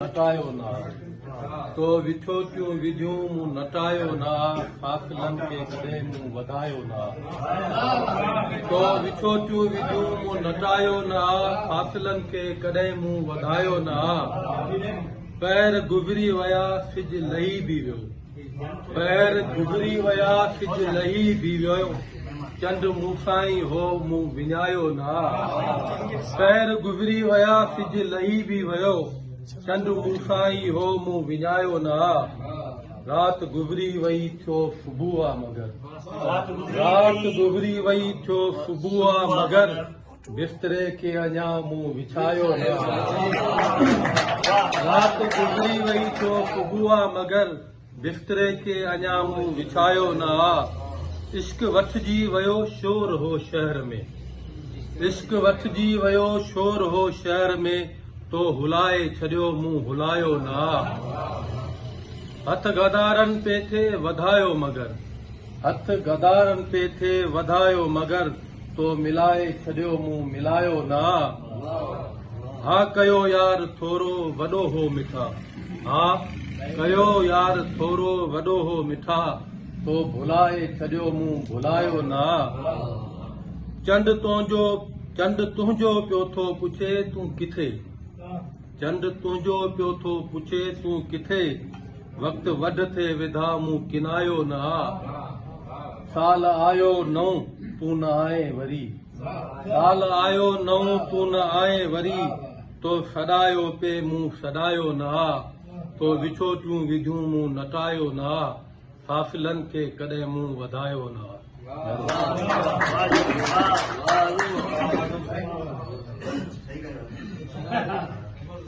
نٽايو نه آ، تو ويٺو ڪيون ويڌيون مون نٽايو نه آ، فاصلن کي ڪڏهن مون وڌايو نه آ، تو ويٺو ڪيون ويڌيون مون نٽايو نه آ، فاصلن کي ڪڏهن مون وڌايو نه آ، پهر گذري ويا سج لهي به ويو. پهر گذري ويا سج لهي به ويو چنڊ مون سان ئي هو مون وڃايو نه پهر گذري ويا سج لهي به ويو چنڊ مون سان ئي هو مون وڃايو نه رات گذري وئي ٿيو صبح آ مگر رات گذري وئي ٿيو صبح آ مگر بستري کي اڃا مون وڇايو نه آهي رات گذري وئي ٿو صبح آ مگر بستري کي اڃا مون وڇايو نه آ عشق وٺجي ويو شور هو شهر ۾ عشق وٺجي ويو شور هو شهر ۾ تو هلائي ڇڏيو مون هلايو نه آ هٿ غدارن پي ٿي وڌايو مگر هٿ غدارن پي ٿي وڌايو مگر تو ملائي ڇڏيو مون ملايو نه آ ها ڪيو يار ٿورو وڏو هو مٺا ها ڪيو يار ٿورو وڏو هو مٺا تو ڀلائي ڇڏيو مون ڀلايو نه آ چنڊ تنهنجو چنڊ تنهنجو پيو ٿو پڇي تون ڪٿي چنڊ تنهنجو پيو ٿو پڇي تون ڪٿي وقت وڍ ٿي وڌا مون ڪنايو نه آ سال آيو نئون تون نه آئين وري. سال آيو نئون تون نه آئين وري. تو سڏايو پي مون سڏايو نه آ. تو وڇوٽيون وڌيون مون نٽايو نه آ. فاصلن کي ڪڏهن مون وڌايو نه آ.